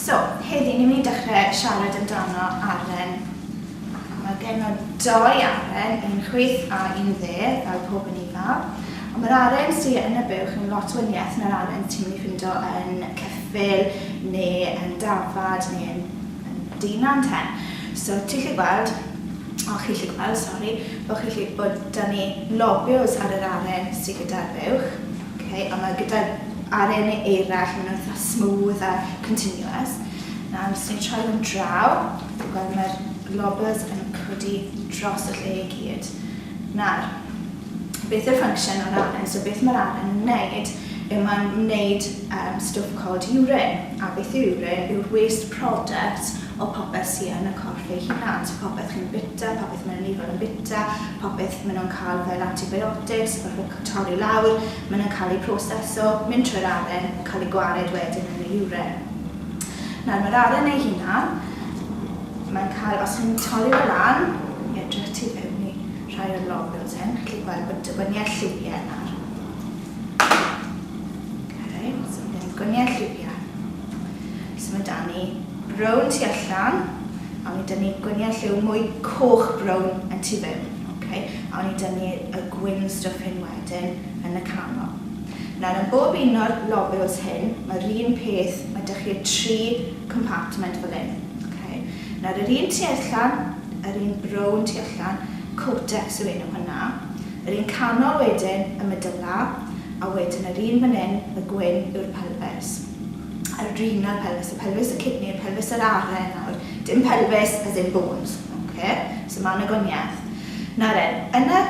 So, heddi ni'n mynd i dechrau siarad amdano aren. A mae genno doi aren, un chwith a un dde, fel pob yn eiddaw. Ond mae'r aren sydd yn y buwch yn lot wyniaeth na'r aren ti'n mynd i ffindo yn ceffyl, neu yn dafad, neu yn, yn dynan ten. So, ti'n lli gweld, o chi lli gweld, sori, bod chi lli bod da ni lobios ar yr aren sydd gyda'r buwch. Ok, a mae gyda aren eirall, maen nhw'n eitha smooth a continuous. Nawr, os ni'n troi nhw'n draw, wel mae'r lobbers yn codi dros y lle i gyd. Nawr, beth yw'r function o'r aren? So beth mae'r aren yn wneud yw mae'n wneud um, stwff called urine. A beth yw urine? Yw'r waste product o popeth sydd yn y corff ei hunan. So popeth chi'n bita, popeth mae'n rhywun yn bita, popeth maen nhw'n cael fel antibiotics, fel torri i lawr, maen nhw'n cael eu proseso, mynd trwy'r aren, yn cael eu gwared wedyn yn y uren. Nawr mae'r aren ei hunan, mae'n cael, os ni'n torri fe lan, i edrych tu fewn i rhai o'r logons hyn, chi'n gweld bod y gwyniau lliwiau yna. Okay, so mae gen gwyniau lliwiau. So mae da ni brown tu allan, a mae da ni gwyniau lliw mwy coch brown yn tu fewn. Ok, awn ni dynnu y gwin stwff hyn wedyn yn y canol. Nawr yn bob un o'r lobules hyn, mae'r un peth, mae dych chi'r tri compartment fel hyn. Ok, nawr yr un tu allan, yr un brown tu allan, cortex yw enw hwnna, yr un canol wedyn y medulla, a wedyn yr un fan hyn, y gwyn, yw'r pelfis. Yr renal pelfis, y pelfis y kidney, y pelfis yr aren nawr, dim pelfis as in bones. Ok, so ma na gwaniath. Nawr en, yn y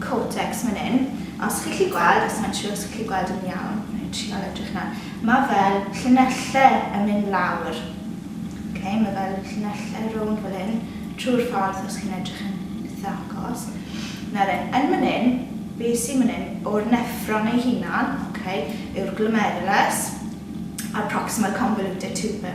cortex man yn, os chi'n gallu gweld, os mae'n siwr os chi'n gallu gweld yn iawn, wna i trial edrych nawr, ma fel llinelle yn mynd lawr. Ok, ma fel llinelle rownd fel hyn, trwy'r ffordd os chi'n edrych yn itha agos. Nawr en, yn man yn, be sy'n man yn, o'r neffron ei hunan, ok, yw'r glomerulus a'r proximal convoluted tubule.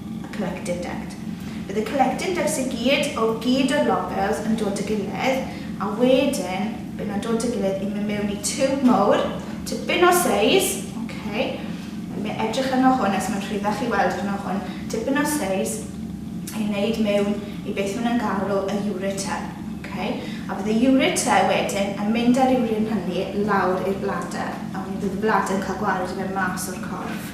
y collective debt. Bydd y collective debts i gyd o gyd o'r lobels yn dod y gilydd a wedyn bydd nhw'n dod y gilydd i mynd mewn i tiwb mowr, tipyn o seis, ok, mi edrych arno hwn os mae'n rhyddach i weld arno hwn, tipyn o seis i wneud mewn i beth maen nhw'n galw y ureter, ok, a bydd y ureter wedyn yn mynd ar ywrin hynny lawr i'r bladder, a wedyn bydd y bladder yn cael gwared i fe mas o'r corff.